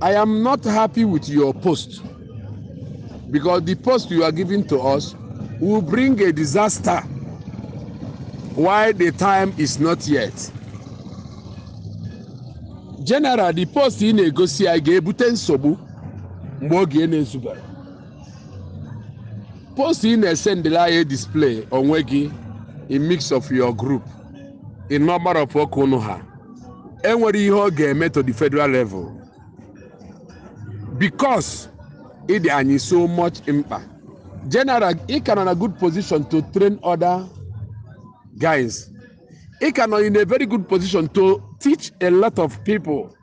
I am not happy with your post because the post you are giving to us will bring a disaster while the time is not yet. General, the post ị na-egosi anyị ga-ebute nsogbu mgbe oge na-ezubero. Post ị na-esendịla anyị display onwe gị in midst of your group. in number of oke unu ha enwere ihe ọ ga-eme to the federal level because ị dị anyị so much mkpa general ị ka nọ na good position to train other guys ị ka nọ in a very good position to teach a lot of people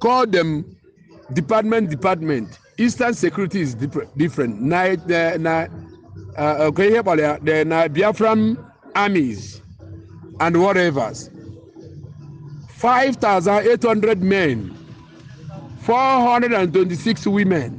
call them department department eastern security is different na na na uh, okay ihe kpọrọ ya the na Biafran armies and whatevers 5800 men 426 women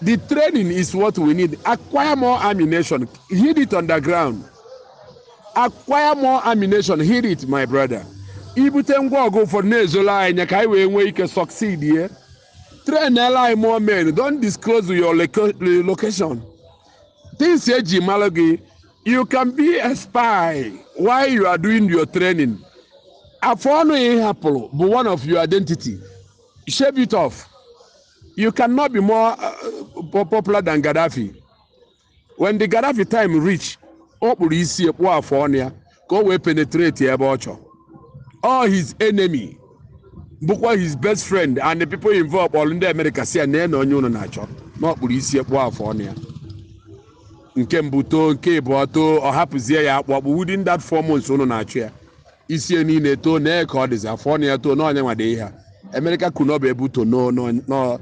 The training is what we need. Acquire more ammunition. Hid it underground. Acquire more ammunition. Hid it, my brother. Ibute ngwa ọgụ ụfọdụ na-ezoro anyị anya ka anyị wee nwee ike succeedie. Trainụrụ anyị more men. Don't disclose your location. Things eji mara gị. You can be a spy while you are doing your training. Afọ ọnụ ị hapụrụ bụ one of your identity. Shave it off. You cannot be more uh, popular than Gaddafi. When the Gaddafi time reach, ọ kpụrụ isi kpụọ afọ ọnụ ya ka o wee penetratie ebe ọ chọ. All his enemy bụkwa his best friend and the people involved kpọrọ ndị Amerịka sị ha neenụ onye unu na-achọ na ọ kpụrụ isi kpụọ afọ ọnụ ya. Nke mbụ too, nke ịbụọ too, ọ hapụzie ya akpụ akpụ within that four months unu na-achọ ya. isi ya niile too nee ka ọ dịzi afọ ọnụ ya too na ọ nya nwa dị ihe a Amerịka kwuru na ọ bụ ebe uto no- no- no-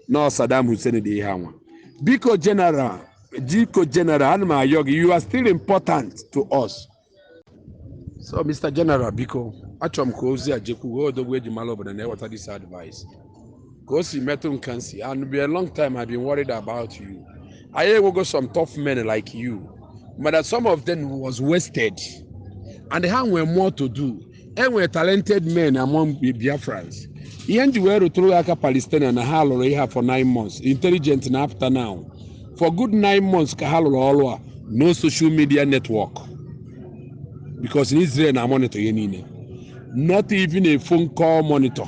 nọ Saddam Hussein dị ihe anwa biko general biko general ana m ayọ gị you are still important to us so mr general biko achọrọ m ka ozi a jekwuo odogwu eji mara obodo na-eweta this advice ka o si metụ m ka m si and be a long time I've been worried about you anyị enwego some tough men like you mana some of them was wasted and ha nwere more to do enwere talented men among Biafrans ihe m ji wee rụtụrụ ya aka Palestinian na ha rụrụ ihe a for nine months intelligent na-apụta now for good nine months ka ha rụrụ ọrụ a no social media network because in Israel na-emonitor ihe niile not even a phone call monitor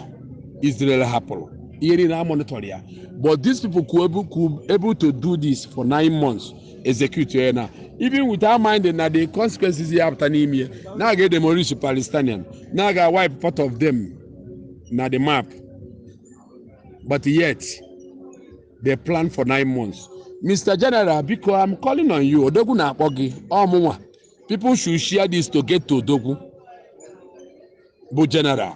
Israel hapụrụ ihe niile a monitor ya but these people could able, could able to do this for nine months execute ya na even without minding na the consequences ya-apụta n'ime ya na a ga-edemolish palestinian na a ga wipe part of them na the map but yet they plan for nine months mr general biko i'm calling on you odogwu na-akpọ gị ọ mụnwa people should share this to get to odogwu bụ general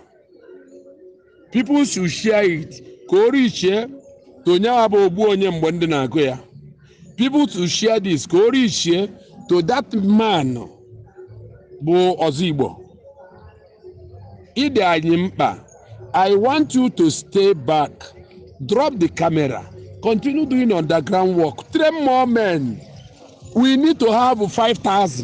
people should share it ka o reachie to onye ahụ bụ ogbu onye mgbe ndụ na-agụ ya people should share this ka o reachie to that man bụ ọzọ igbo ị dị anyị mkpa i want you to stay back drop the camera continue doing underground work train more men we need to have 5000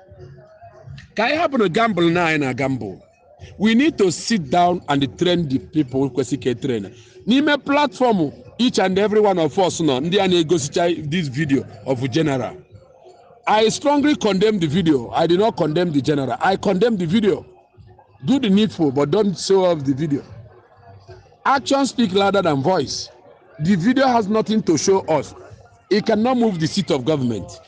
ka anyị hapụrụ gamble na anyị na gamble we need to sit down and train the people kwesị ka a train n'ime platform each and every one of us nọ ndị a na-egosicha this video of general i strongly condemn the video i did not condemn the general i condemn the video do the needful but don't show off the video action speak louder than voice the video has nothing to show us it cannot move the seat of government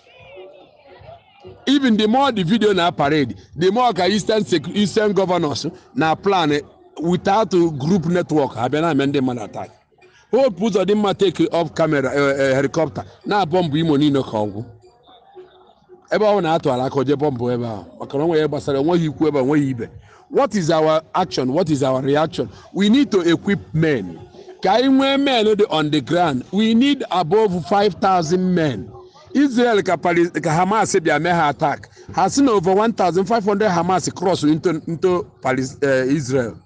even the more the video na parade the more ka eastern sec- eastern governors na plan without group network abịa na-eme ndị mmadụ attack Hope Uzodimma take off camera eh, eh, helicopter na-abọmbụ imo niile ka ọ gwụ ebe ọ na atụ ala aka o je bọmbụ ebe ahụ maka na o nweghị ihe gbasara o nweghị ikwu ebe a, o nweghị ibe what is our action what is our reaction we need to equip men ka anyị nwee men dị on the ground we need above 5000 men Israel ka Pali- ka Hamas bịa mee ha attack ha si na over 1500 Hamas cross into, into Palis, eh, Israel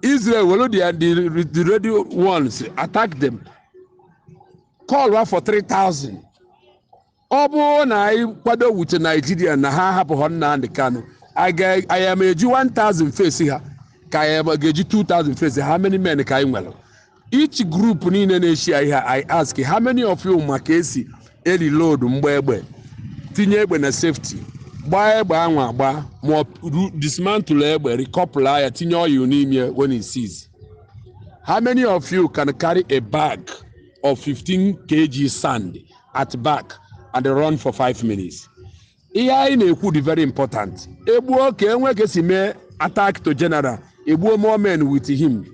Israel were the, the, the ready ones attack them call ha for 3000 ọ bụrụ na anyị kwado war with Nigeria na ha hapụghọ Nnamdi Kanu anyị ga- anyị ama eji 1000 face ha ka anyị ama ga-eji 2000 face ha how many men ka anyị nwere each group niile na-eshi ya ihe i ask how many of you ma ka esi eri load mgba egbe tinye egbe na safety gbaa egbe ahụ agba ma ọ ru- dismantle egbe rikọpụla ya tinye oil n'ime when it sees how many of you can carry a bag of 15 kg sand at back and run for 5 minutes ihe anyị na-ekwu dị very important e gbuo ka e nwe ka e si mee attack to general e gbuo more men with him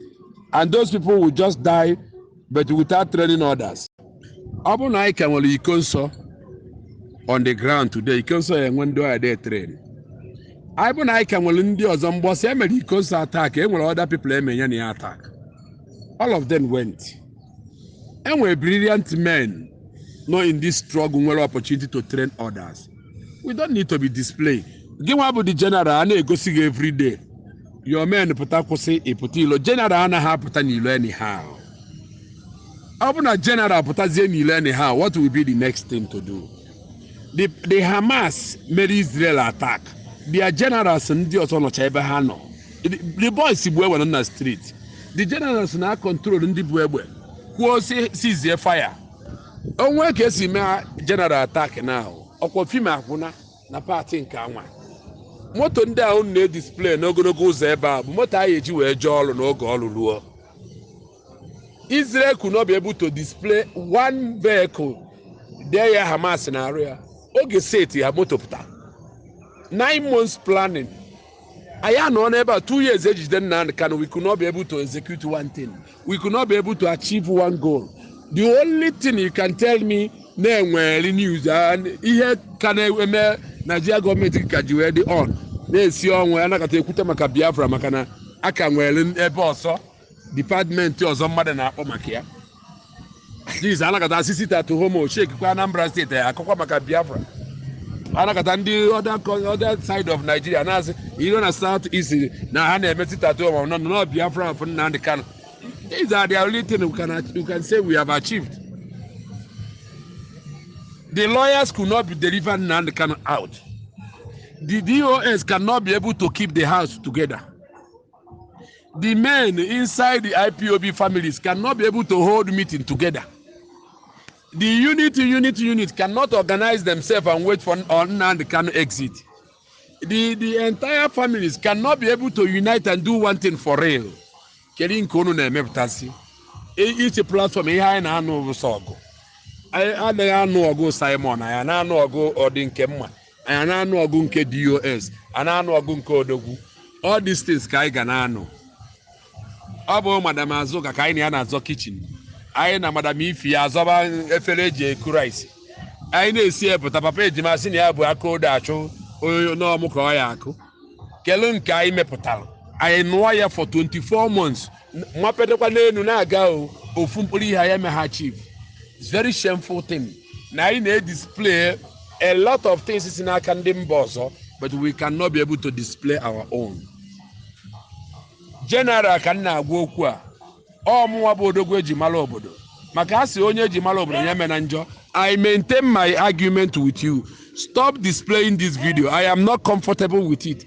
and those people will just die but without training others ọ bụrụ na anyị ka nwere Ikonso on the ground today Ikonso ya-enwe ndị ọ ya dey train ọ bụ na anyị ka nwere ndị ọzọ mbọsị e mere Ikonso attack e nwere other people e me ya na ya attack all of them went e nwere brilliant men nọ in this struggle nwere opportunity to train others we don't need to be displayed gị nwa bụ the general a na-egosi gị every day your men pụta kwụsị ịpụta ilo general anaghị apụta n'ilo anyhow ọ bụ na general pụtazie n'ilo anyhow what will be the next thing to do the the hamas mere israel attack their generals ndị ọzọ nọcha ebe ha nọ the, the boys bu egbe nọ na street the generals na-acontrol ndị bu egbe kwuo sị ceasie fire o nwee ka e si mee general attack na ọ kwa film agwụna na part nke anwa moto ndị ahụ na-edisplay n'ogologo ụzọ ebe a bụ moto anyị eji wee jee ọrụ n'oge ọrụ ruo Israel could not be able to display one vehicle there Hamas na-arụ ya oge set ya moto pụta nine months planning anyị anọọ n'ebe a two years e jide Nnamdi Kanu we could not be able to execute one thing we could not be able to achieve one goal the only thing you can tell me na e nwere news and ihe ka na-eme Nigeria government ka ji wee dị on na-esi ọnwụ a nọkata e kwute maka Biafra maka na a ka nwere ebe ọzọ department ọzọ mmadụ na-akọ maka ya just a nọkata a sị sit at home shakekwa anambra state a kọkwa maka biafra a nọkata ndị other side of nigeria na-asị iro na south east na ha na-eme sit at home on on behalf of nnamdi kanu these are the only thing we can, we can say we have achieved the lawyers could not be deliver nnamdi kanu out the dos cannot be able to keep the house together the men inside the IPOB families cannot be able to hold meeting together. The unit, unit, unit cannot organize themselves and wait for Nnamdi Kanu exit. The, the entire families cannot be able to unite and do one thing for real. Kedu nke unu na-emepụtasị? Each platform ihe anyị na-anụ bụ sọ ọgụ. Anyị anaghị anụ ọgụ Simon, anyị na-anụ ọgụ Ọdịnkemma. anyị a na-anụ ọgụ nke dos a na-anụ ọgụ nke odogwu all these things ka anyị ga na-anụ ọ bụ madam azụka ka anyị na ya na-azọ kitchen anyị na madam ify azọba efere e ji eku rice anyị na-esi epụta papa ejima sị na ya bụ aka odo achọ onye n'ọmụ ka ọ ya-akụ kelu nke anyị mepụtara anyị nụọ ya for 24 months mapedekwa n'elu na-aga o ofu mkpụrụ ihe anyị emegha chief It's very shameful thing na anyị na-edisplay a lot of things si n'aka ndị mba ọzọ but we cannot be able to display our own general ka m na-agwa okwu a ọ mụnwa bụ odogwu e ji mara obodo maka a sị onye e ji mara obodo ya emena njọ i maintain my argument with you stop displaying this video i am not comfortable with it